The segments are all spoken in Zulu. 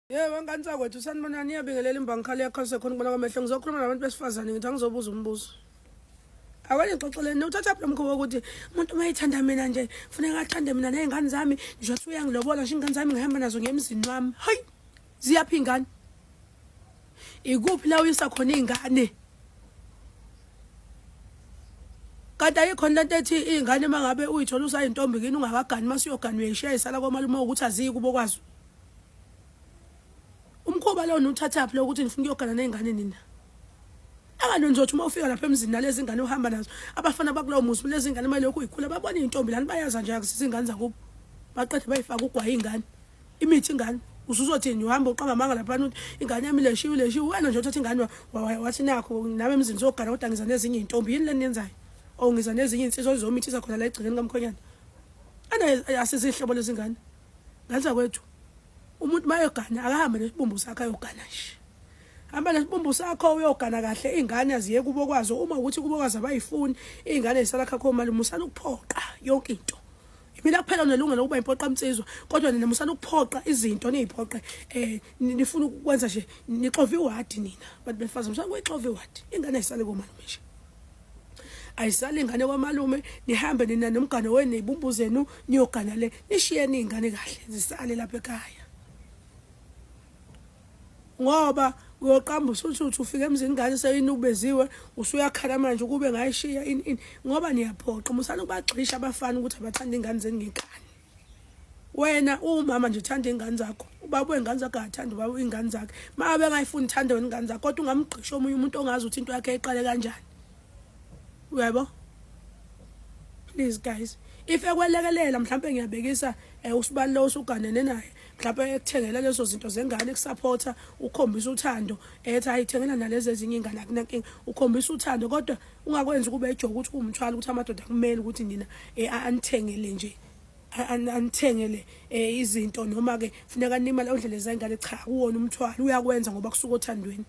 Yebo wengane sakwethu sanibona niyabingelela imbangi khale yakhalise khona kubona kwamehlo ngizokhuluma nabantu besifazane ngithi angizobuza umbuzo awanixoxeleni uthatha phi lomkhuba wokuthi umuntu uma ethanda mina nje funeka athande mina ney'ngane zami nje wathi uyangilobola nje iy'ngane zami ngihamba nazo ngiye emzini wami hayi ziyaphi iy'ngane ikuphi la uyisa khona iy'ngane kanti ayikho lento ethi iy'ngane uma ngabe uyithola usayintombi kini ungakagani uma siyogani uyayishayisala komalume ukuthi aziyi kubo kwazo umkhuba lo niwuthathaphi lo ukuthi nifuna ukuyogana ney'ngane nina anganonjotha uma ufika lapha emzini nalezi ngane uhamba nazo abafana bakulowo muzi lezi ngane uma lokhu yikhula babona iy'ntombi lani bayaza nje yakusisa iy'ngane zakubo baqede bayifake ugwaye ingane imithi ingane usuzothini uhamba uqamba amanga laphana ukuthi ingane yami leshiwe leshiwe wena nje uthatha ingane wathi nakho nami emzini sogana kodwa ngiza nezinye iy'ntombi yini le niyenzayo or ngiza nezinye iy'nsizwa zizomithisa khona la egcekeni kamkhonyana ana asizihlobo lezingane Ngathi akwethu umuntu mayogana akahambe nesibumbu sakhe ayogana nje. Hamba nesibumbu sakho uyogana kahle ingane aziye kubo kwazo uma ukuthi kubo kwazo abayifuni ingane isala khakho mali musana ukuphoqa yonke into. Mina kuphela unelungelo ukuba impoqa mtsizwa kodwa nina musana ukuphoqa izinto niziphoqe eh nifuna ukwenza nje nixova iwadi nina bantu befazi musana kuyixova iwadi ingane isale komalume nje. ayisali ingane kwamalume nihambe nina nomgane wenu neyibumbu zenu niyogana le nishiyeni iy'ngane kahle zisale lapha ekhaya ngoba uyoqamba usuthi ufike emzini ngane seyinukubeziwe usuyakhala manje ukube ngayishiya ini ini ngoba niyaphoqa musani ukubagxisha abafana ukuthi abathanda ingane zenu ngekani wena uwumama nje uthanda iy'ngane zakho ubaba wey'ngane zakho akathanda ubaba iy'ngane zakhe ma abe engayifuni uthande wena ingane zakho kodwa ungamgqisha omunye umuntu ongazi ukuthi into yakhe iqale kanjani uyabo please guys if ekwelekelela mhlawumpe ngiyabekisa um eh, usibalule usuganene naye mhlawumpe ekuthengela lezo zinto zengane ekusaphotha ukhombisa uthando ethi ayithengela nalezi ezinye iy'ngane akunankinga ukhombisa uthando kodwa ungakwenzi kube ejoka ukuthi kuwumthwalo ukuthi amadoda kumele ukuthi nina eh, anithengele nje anithengele eh, izinto noma ke funeka nimali ondlela zengane cha kuwona umthwalo uyakwenza ngoba kusuka othandweni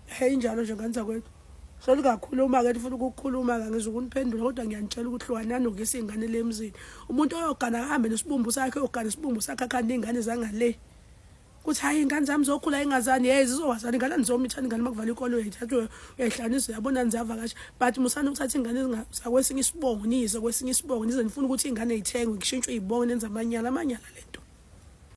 hey njalo nje ngane zakwethu solu kakhulu uma ke ufuna ukukhuluma ke ngizokuniphendula kodwa ngiyanitshela ukuthi hlukanani ngese ingane lemzini umuntu oyogana ahambe nesibumbu sakhe ogana isibumbu sakhe akhanda ingane zangale kuthi hayi ingane zami zokhula ingazani hey zizowazana ingane ndizomithana ingane makuvala ikolo uyayithathwe uyayihlanisa uyabona nizavakasha but musani ukuthatha ingane zakwesinye isibongo niyise kwesinye isibongo nize nifuna ukuthi ingane ithengwe kushintshwe izibongo nenza amanyala amanyala lento